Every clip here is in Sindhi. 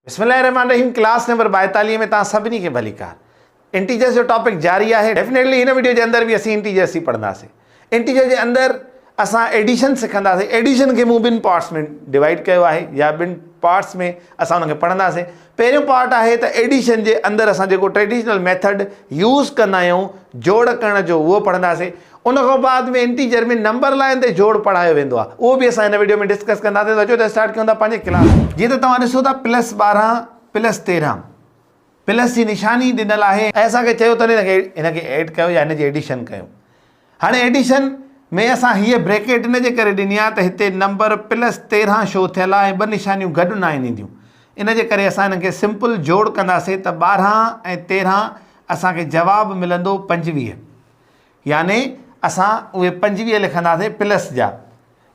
بسم الله الرحمن الرحيم ڪلاس نمبر ٻائيتاليهه ۾ توهان سڀني کي ڀليڪار انٽيجرس جو ٽاپڪ جاري آهي ڊيفنيٽلي هن وڊيو جي اندر به اسين انٽيجرس ئي پڙهنداسين انٽيجر جي اندر اسان ايڊيشن سکنداسين ايڊيشن کي مون ٻن پارٽس ۾ ڊوائيڊ ڪيو آهي يا ٻن پارٽس ۾ اسان ان کي پڙهنداسين پهريون پارٽ آهي ته ايڊيشن جي اندر اسان جيڪو ٽريڊيشنل ميٿڊ يوز ڪندا آهيون جوڙ ڪرڻ جو اهو پڙهنداسين ان کان بعد ۾ انٽيجر ۾ نمبر لائين تي جوڙ پڙهايو ويندو آهي اهو به اسان هن وڊيو ۾ ڊسڪس ڪنداسين ته اچو ته اسٽارٽ ڪيون ٿا پنهنجي ڪلاس کي. جيئن ته توهان ڏسو ٿا پلس ٻارهن پلس تيرهن پلس جي نشاني ڏنل آهي ۽ اسان کي چيو اٿن هن کي ايڊ ڪيو يا هن جي ايڊيشن ڪيو هاڻي ايڊيشن ۾ اسان هيء بريڪيٽ ان جي ڪري ڏني آهي ته هتي نمبر پلس تيرهن شو ٿيل آهي ۽ ٻه نشانيون گڏ ناهن اينديون ان جي ڪري اسان هنن کي سمپل جوڙ ڪنداسين ته ٻارهن ۽ تيرهن اسان کي جواب ملندو پنجويهه يعني اسان اهي پنجويهه لکنداسين پلس جا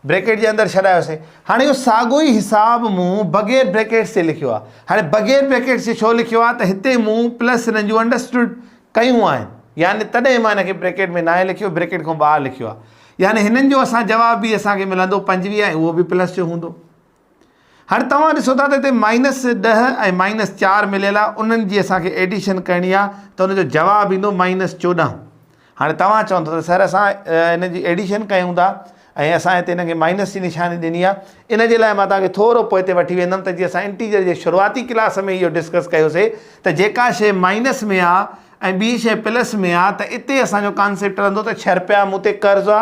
بريڪيٽ جي اندر ڇڏايوسين هاڻي اهو ساڳو ئي حساب مون بغير بريڪيٽس جي لکيو آهي هاڻي بغير بريڪيٽس جي ڇو لکيو آهي ته هتي مون پلس سنن جون انڊرسٽوڊ ڪيون آهن يعني تڏهن مان هن کي بريڪيٽ ۾ ناهي لکيو بريڪيٽ کان ٻاهر لکيو آهي يعني هنن جو اسان جواب به اسان کي ملندو پنجويهه ۽ اهو به پلس جو هوندو هاڻي توهان ڏسو ٿا ته هتي مائنس ڏهه ۽ مائنس چار مليل آ انهن جي اسان کي ايڊيشن ڪرڻي آ ته ان جو جواب ايندو مائنس چوڏهن هاڻي توهان چوندو ته سر اسان ان جي ايڊيشن ڪيون ٿا ۽ اسان هتي هن کي مائنس جي نشاني ڏني آ ان جي لاء مان توهان کي ٿورو پوء تي وٺي ويندم ته جي اسان انٽيجر جي شروعاتي ڪلاس ۾ اهو ڊسڪس ڪيوسي ته جيڪا شيء مائنس ۾ آ ۽ ٻي شيء پلس ۾ آ ته اتي اسان جو ڪانسيپٽ رهندو ته ڇهه رپيا مون تي قرض آ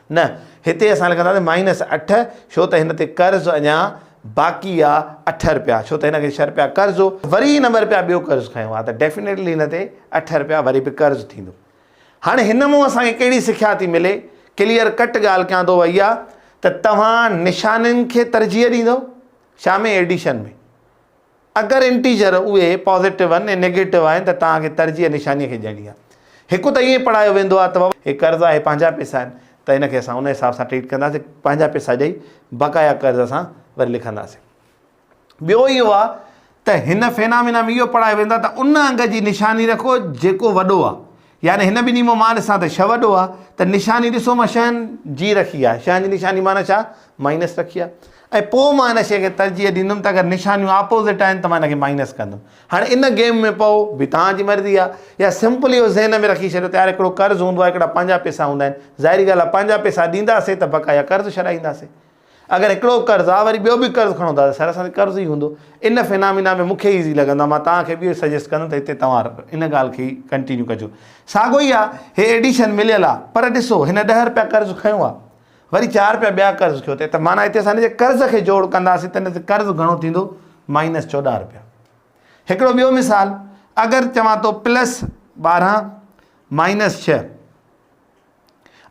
نه، هتي اسان لکنداسين مائنس اٺ ڇو ته هن تي قرض اڃا باقي آ اٺ رپيا ڇو ته هن کي ڇهه رپيا قرض هو وري هن ٻه رپيا ٻيو قرض کنيو آ ته ڊيفينيٽلي هن تي اٺ رپيا وري به قرض ٿيندو. هاڻي هن مون اسان کي ڪهڙي سکيا ٿي ملي؟ ڪليئر ڪٽ ڳالهه ڪيان ٿو اها ته توهان نشانين کي ترجيح ڏيندؤ شامي ايڊيشن ۾. اگر انٽيجر اهي پازيٽو آهن ۽ نيگيٽو آهن ته توهان کي ترجيح نشانيء کي ڏيڻي آهي. هڪ ته ائين پڙهايو ويندو آهي ته بابا هي قرض آهي پنهنجا پئسا آهن ته هن کي اسان ان حساب سان ٽريٽ ڪنداسين پنهنجا پئسا ڏئي بقايا قرض اسان وري لکنداسين. ٻيو اهو آهي ته هن فينامينا ۾ اهو پڙهايو ويندو آهي ته ان انگ جي نشاني رکو جيڪو وڏو آهي يعني هن ٻنهي مان مان ڏسان ته ڇهه وڏو آهي ته نشاني ڏسو مان شهن جي رکي آهي شهن جي نشاني معنيٰ ڇا مائنس رکي آهي ۽ پوء مان هن شيء کي ترجيح ڏيندم ته اگر نشانيون آپوزٽ آهن ته مان هن کي مائنس ڪندم هاڻي ان گيم ۾ پئو به توهان جي مرضي آهي يا سمپل اهو ذهن ۾ رکي ڇڏيو ته يار هڪڙو قرض هوندو آهي هڪڙا پنهنجا پئسا هوندا آهن ظاهري ڳالهه آهي پنهنجا پئسا ڏينداسين ته بقايا قرض ڇڏائينداسين اگر هڪڙو قرض آ وري ٻيو به قرض کڻو ٿا ته سراسر قرض ئي هوندو. ان فينامينا ۾ مون کي ايزي لڳندو آ مان توهان کي به اهو سجيسٽ ڪندم ته هتي توهان ان ڳالهه کي ڪنٽينيو ڪجو. ساڳو ئي آ هي ايڊيشن مليل آ پر ڏسو هن ڏهه رپيا قرض کنيو آ وري چار رپيا ٻيا قرض کيو تي ته معنيٰ هتي اسان هن جي قرض کي جوڙ ڪنداسين ته هتي قرض گهڻو ٿيندو مائنس چوڏهن رپيا. هڪڙو ٻيو مثال اگر چوان ٿو پلس ٻارهن مائنس ڇهه.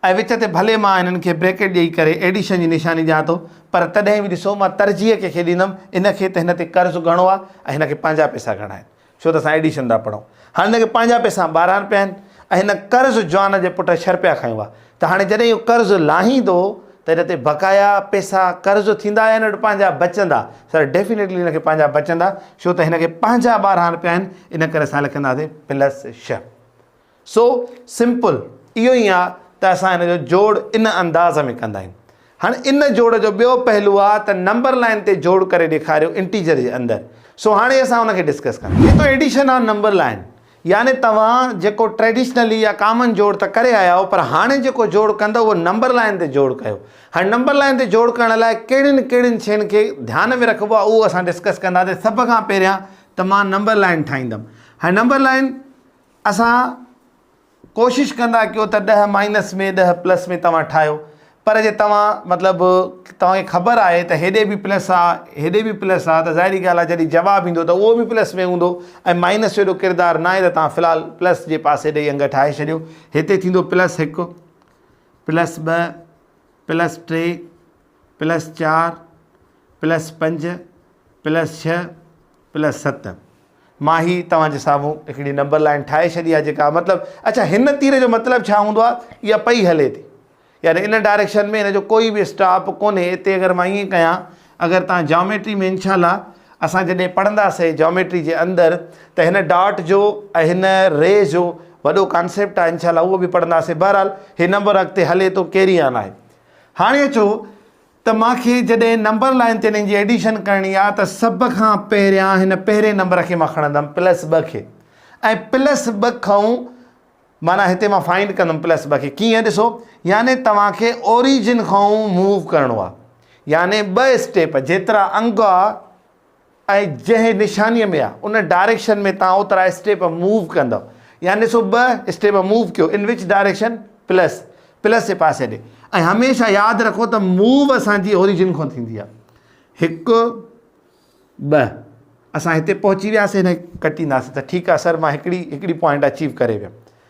۽ وچ تي ڀلي مان هنن کي بريڪيٽ ڏيئي ڪري ايڊيشن جي نشاني ڏيان ٿو پر تڏهن به ڏسو مان ترجيح ڪنهن کي ڏيندم ان کي ته هن تي قرض گهڻو آهي ۽ هن کي پنهنجا پئسا گهڻا آهن ڇو ته اسان ايڊيشن ٿا پڙهون هاڻي هن کي پنهنجا پئسا ٻاراڻ پيا آهن ۽ هن قرض جوان جي پٽ شر پيا کايون ها ته هاڻي جڏهن اهو قرض لاهيندو ته هن تي بقايا پئسا قرض ٿيندا يا هن وٽ پنهنجا بچندا سر ڊيفينيٽلي هن کي پنهنجا بچندا ڇو ته هن کي پنهنجا ٻاراڻ پيا آهن ان ڪري اسان لکنداسين پلس شھ سو سمپل اهو ئي آ ته اسان هن جو جوڙ ان انداز ۾ ڪندا آهيون. هاڻ ان جوڙ جو ٻيو پهلو آ ته نمبر لائين تي جوڙ ڪري ڏيکاريو انٽيجر جي اندر. سو هاڻي اسان ان کي ڊسڪس ڪندا. هي ته ايڊيشن آن نمبر لائين يعني توهان جيڪو ٽريڊيشنلي يا ڪامن جوڙ ته ڪري آيا آهيو پر هاڻي جيڪو جوڙ ڪندا اهو نمبر لائين تي جوڙ ڪيو. هاڻ نمبر لائين تي جوڙ ڪرڻ لاء ڪهڙين ڪهڙين شين کي ڌيان ۾ رکبو آ اهو اسان ڊسڪس ڪنداسين سڀ کان پهريان ته مان نمبر لائين ٺاهيندم. هاڻ نمبر لائين. اسان ڪوشش ڪندا ڪيو ته ڏهه مائنس ۾ ڏهه پلس ۾ توهان ٺاهيو پر جي توهان مطلب توهان کي خبر آهي ته هيڏي به پلس آهي هيڏي به پلس آهي ته ظاهري ڳالهه آهي جڏهن جواب ايندو ته اهو به پلس ۾ هوندو ۽ مائنس جو ايڏو ڪردار ناهي ته توهان في الحال پلس جي پاسي ڏئي انگ ٺاهي ڇڏيو هتي ٿيندو پلس هڪ پلس ٻه پلس ٽي پلس چار پلس پنج پلس ڇهه پلس ست مان هي توهان جي سامهون هڪڙي نمبر لائين ٺاهي ڇڏي آهي جيڪا مطلب اڇا هن تير جو مطلب ڇا هوندو آهي اها پئي هلي ٿي يعني ان ڊائريڪشن ۾ هن جو ڪوئي به اسٽاپ ڪونهي اتي اگر مان ائين ڪيان اگر توهان جاميٽري ۾ انشاء الله اسان جڏهن پڙهنداسي جاميٽري جي اندر ته هن ڊاٽ جو ۽ هن ري جو وڏو ڪانسيپٽ آهي انشاء الله اهو به پڙهنداسي بهرحال هي نمبر اڳتي هلي ٿو ڪيري آن آهي هاڻي اچو ته مان کي جڏهن نمبر لائين تي انهن جي ايڊيشن ڪرڻي آهي ته سڀ کان پهريان هن پهرين نمبر کي مان کڻندم پلس ٻه کي ۽ پلس ٻه کئون معنيٰ هتي مان فائنڊ ڪندم پلس ٻه کي ڪيئن ڏسو يعني توهان کي اوريجن کئون موو ڪرڻو آهي يعني ٻه اسٽيپ جيترا انگ آهي ۽ جنهن نشانيء ۾ آ، ان ڊائريڪشن ۾ توهان اوترا اسٽيپ موو ڪندؤ. يعني ڏسو ٻه اسٽيپ موو ڪيو، ان وچ ڊائريڪشن، پلس، پلس جي پاسي ڏي. ۽ هميشه ياد رکو ته موو اسان جي اوريجن کان ٿيندي آ. هڪ، ٻه، اسان هتي پهچي وياسين هن کي ڪٽينداسين ته ٺيڪ آ سر مان هڪڙي، هڪڙي پوائنٽ اچيو ڪري ويم.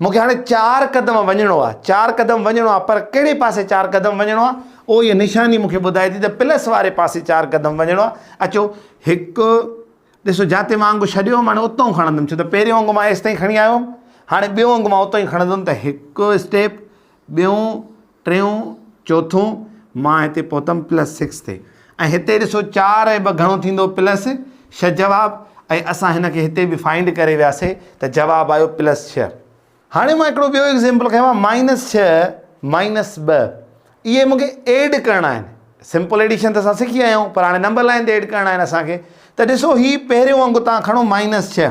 مون کي هاڻي چار قدم وڃڻو آهي، چار قدم وڃڻو آهي پر ڪهڙي پاسي چار قدم وڃڻو آهي اهو هيء نشاني مون کي ٻڌائي ٿي ته پلس واري پاسي چار قدم وڃڻو آهي اچو هڪ ڏسو جاتي مان انگ ڇڏيو هوم هاڻي اتئون کڻندم ڇو ته پهريون انگ مان هيستائين کڻي آيو هوم هاڻي ٻيو انگ مان اتئون ئي کڻندم ته هڪ اسٽيپ ٻيون ٽيون چوٿون مان هتي پهتم پلس سڪس تي ۽ هتي ڏسو چار ۽ ٻ گهڻو ٿيندو پلس ڇهه جواب ۽ اسان هن کي هتي به فائنڊ ڪري وياسي ته جواب آيو پلس ڇهه هاڻي مان هڪڙو ٻيو ايگزامپل کنيو آهي مائنس ڇهه مائنس ٻه اهي مونکي ايڊ ڪرڻا آهن سمپل ايڊيشن ته اسان سکي آيا آهيون پر هاڻي نمبر لائن تي ايڊ ڪرڻا آهن اسان کي ته ڏسو هي پهريون انگ تان کڻو مائنس ڇهه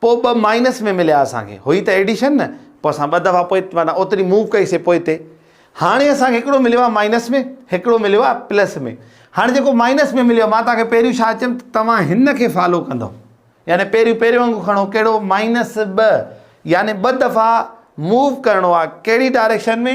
پوء ٻه مائنس ۾ مليا اسان کي. هئي ته ايڊيشن نه. پوء اسان ٻه دفعا پوء معنيٰ اوتري موو ڪئي سي پوئتي. هاڻي اسان کي هڪڙو مليو آهي مائنس ۾ هڪڙو مليو آهي پلس ۾. هاڻي جيڪو مائنس ۾ مليو آهي مان توهان کي پهريون ڇا چيم ته توهان هن کي فالو ڪندئو. يعني پهريون پهرين وانگو کڻو ڪهڙو مائنس ٻه يعني ٻه دفعا موو ڪرڻو آهي ڪهڙي ڊائريڪشن ۾؟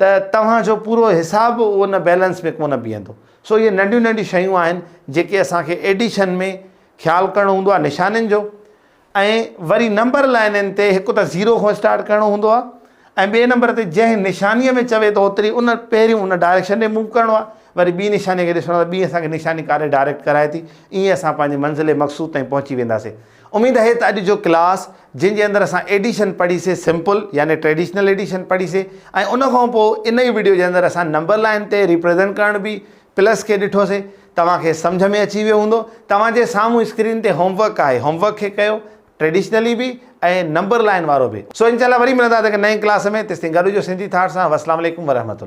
ته توهان جو پورو حساب ان بيلنس ۾ ڪونه بيهندو سو اهي ننڍيون ننڍيون شيون آهن جيڪي اسان کي ايڊيشن ۾ خيال ڪرڻو هوندو آهي نشانين جو ۽ وري نمبر لائنين تي هڪ ته زيرو کان اسٽارٽ ڪرڻو هوندو آهي ۽ ٻئي نمبر تي جنهن نشانيء ۾ چوي ته اوتري ان پهريون ان ڊائريڪشن ڏي موو ڪرڻو آهي وري ٻي نشانيء کي ڏسڻو آهي ته ٻي اسان کي نشاني ڪاڏي ڊائريڪٽ ڪرائي ٿي ائين اسان پنهنجي منزل مقصود تائين پهچي وينداسين اميد اهي ته اڄ جو ڪلاس جنهن جي اندر اسان ايڊيشن پڙهي سي سمپل يعني ٽريڊيشنل ايڊيشن پڙهي سي ۽ ان کان پوء انهي ويڊيو جي اندر اسان نمبر لائين تي ريپريزنٽ ڪرڻ بي پلس کي ڏٺو سي توهان کي سمجهه ۾ اچي ويو هوندو توهان جي سامهون اسڪرين تي هوم ورڪ آهي هوم ورڪ کي ڪيو ٽريڊيشنلي بي ۽ نمبر لائين وارو بي سو انشاء الله وري ملندا ته هڪ نئين ڪلاس ۾ تيستائين گڏ هجو سنڌي ٿاٽ سان وسلام عليڪم ورحمة الله.